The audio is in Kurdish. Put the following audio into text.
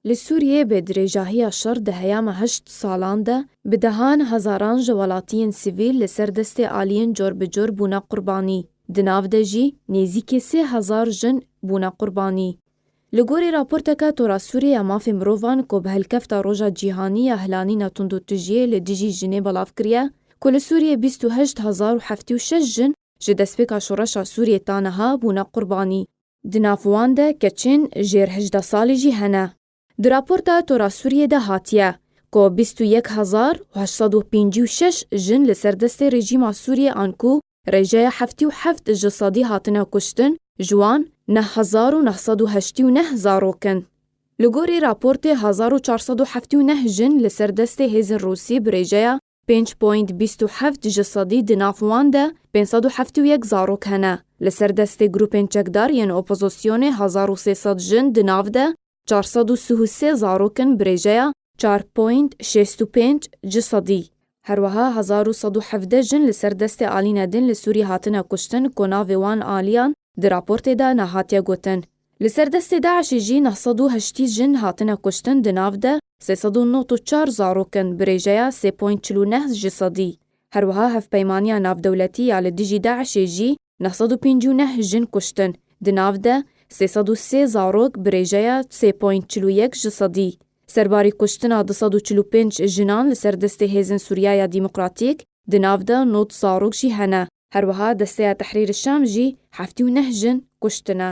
Li Sûriyê bi dirêjahiya şer di heyama heşt salan de bi dehan hezaran ji welatiyên sivîl li ser destê aliyên corbicor bûne qurbanî. Di nav de jî nêzîkî sê hezar jin bûne qurbanî. Li gorî raporteke Tora Sûriyê ya Mafên Mirovan ku bi hilkefta Roja Cîhanî ya Hilanîna Tundûtijiyê li dijî jinê belav kiriye, ku li Sûriyê bîst û heşt hezar û heftê û şeş jin ji destpêka şoreşa Sûriyê ta niha bûne qurbanî. Di nav wan de keçên jêr hejdeh salî jî hene. Di raporta Tora Sûriyê de hatiye ku bîst û yek hezar û heşt sed û pêncî û şeş jin li ser destê rejîma Sûriyê an ku rêjeya heftî û heft ji sedî hatine kuştin, ji wan neh hezar û neh sed û heştî û neh zarok in. Li gorî raportê hezar û çar sed û heftî û neh jin li ser destê hêzên Rûsî bi rêjeya Pênc point bîst û heft ji sedî di nav wan de pênc sed û heftê û yek zarok hene. Li ser destê grûpên çekdar yên opozisyonê hezar û sê sed jin di nav de çar sed û sih û sê zarok in bi rêjeya çar point şêst û pênc ji sedî. Her weha hezar û sed û hevdeh jin li ser destê alîne din li Sûriyê hatine kuştin ku navê wan aliyan di raportê de nehatiye gotin. Li ser destê DAIŞ'ê jî neh sed û heştî jin hatine kuştin di nav de sê sed û nod û çar zarokin bi rêjeya sê point çil û neh ji sedî. Her wiha hevpeymaniya navdewletî ya li dijî DAIŞ'ê jî neh sed û pêncî û neh jin kuştin, di nav de sê sed û sê zarok bi rêjeya sê point çil û yek ji sedî. Serbarî kuştina du sed û çil û pênc jinan li ser destê Hêzên Sûriya ya Demokratîk, di nav de nod zarok jî hene. Her wiha Desteya Tehrîrî Şam jî heftî û neh jin kuştine.